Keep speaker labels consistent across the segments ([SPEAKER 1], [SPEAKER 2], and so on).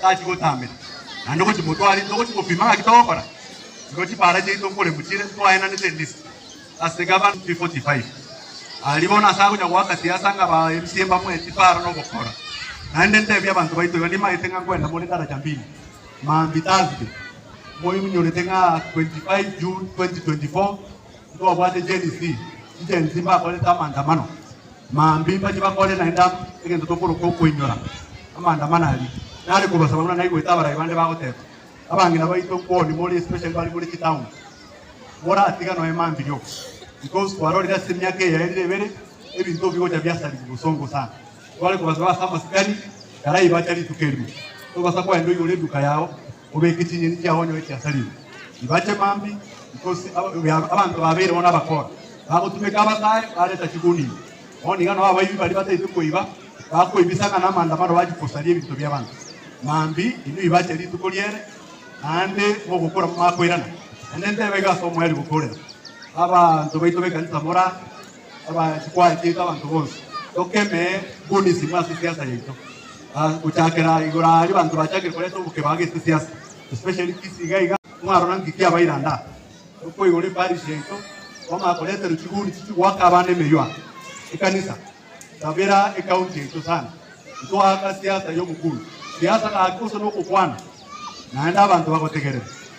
[SPEAKER 1] Tari gotambera, naende gochi motware into gochi gopima ng'aki togokora, nigo chipaara chiaito nkore mochiire twaenanete list ase gavana 345 aria bono ase agocha goaka siasa ng'a ba mca mbamoe chipaara nogokora naende ntebie abanto baito iga nimanyete ng'a nkwenda more daraja mbili mambi Thursday moiminyorete ng'a 25 June 2024 Ntobwate Gen Z, Gen Z mbakorete amaandamano mambia mbachie bakore naende egento tokoroka okoinyora amaandamano aria. Nare kobasaba buna naigwete abarai bande bagoteba, abang'ina baito nkoni more especially bare more chitown, moratiga noe mambia oo because kwarorire ase emiaka eye yaerire ebere ebinto bigocha biasarigwa bosongo sana. Tware kobasaba ase amasikani karai bacha rituko erimo, tobasa koenda oigure eduka yao. Obeke chinyeni chiao onyore chiasarigwe ibache mambi, nkosi abanto babeire bono abakora, bagotumeka abasaae bareta chigundia. Bono iga nao abaibi baria bataito koiba bakoibisa ng'a namandamano bache kosaria ebinto bi'abanto mambi, inwe ibache rituko riere naende mogokora momakoirana. Naende ntebe iga as'omoerio gokorera abanto baito b'ekanisa morare, Abanto twaachete abanto bonsi tokeme bonisimo ase siasa yaito. Gochakera aye igoro aria abanto bachakire koreta obokeba agete siasa especially Kisii iga iga mwarora nki kiabaire ande aa. Tokoigora eparish yaito kwamanya koreterwa chiguni chichia goaka abana emeywa ekanisa Sabera ecounty yaito sana ntoaka siasa yomokundu. Siasa gaki gose nokokwana naende abanto bagotegerere.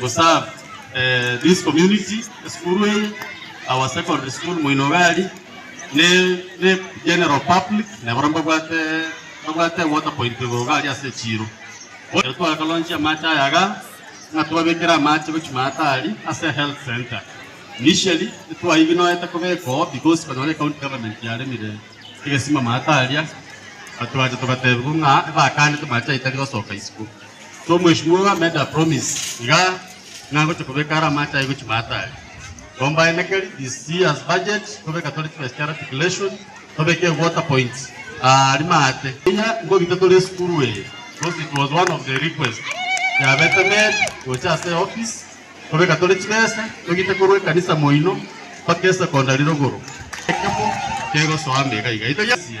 [SPEAKER 2] To serve this community, esukuru eye, our secondary school moino iga aria, ne general public na baria mbabwate water point igoro iga aria ase echiro. Ekero twagaronsia amache aya iga, ng'a twabekere amache gochia maate aria ase health centre. Initially titwaiginoete kobeka oo because konyora ecounty government yaremire egesima maate aria, but twacha togatebiwa ng'a ebakane amache aye tari gosoka isiko. So mweshimiwa oyo amade a promise iga ng'a agocha kobeka are amache aye gochia matari. Combine ekeri this year's budget tobeka tore chibesa chia raticulation tobeke water point aa rimaate. Inya nkobita tore esukuru eye because it was one of the request yabete made gocha ase office tobeka tore chibesa togite korwa ekanisa moino mpaka esecondary rogoro. Ekemo kegosoa ime iga iga. Itoiyesie.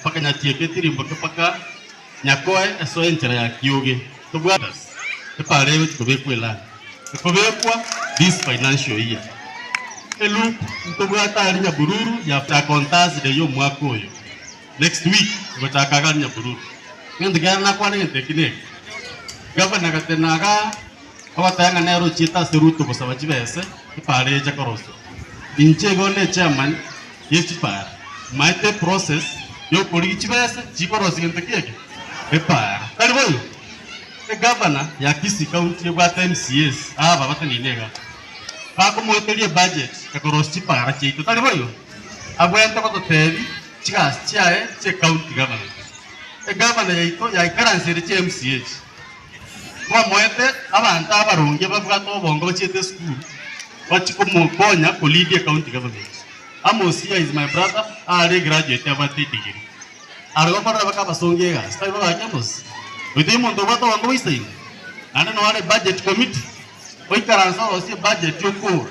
[SPEAKER 2] Mpaka nyatieke tirimboke mpaka nyakoe esoe enchera ya kioge tobwate epara egochi kobekwa elami ekobekwa this financial year elup ntobwate ari nyabururu ya chaka on Thursday yomwaka oyo next week ngochaka iga ari nyabururu egento kiane nakwane egento eki neke gavana gatena iga agoteba ng'a nere ochiete ase Ruto gosaba chibese epara echa koroswa inche igo onde chairman y'echipara. Omaete eprocess y'okorigia chibesa chikorosia gento ki eke? Epara. Tari boigo? Egavana ya Kisii County ebwate MCAs aba bateneine iga. Bakomoeteria ebudget ekorosia chipara chiaito, tari boigo? Abwenerete gototebia chigasi chiaye chi'ecounty government. Egavana yaito yaikaransete chi'eMCA echi. Mwamoete abanto abaronge babwate obonge bachiete esukuru bachi komokonya ko lead ecounty government. Amos here is my brother are graduate abwate edigiri are gokorera baka abasongi egasi tari babake Amos oyo tari omonto obwate obonge boisaine naende noare budget committee oikaranse orosie budget okogora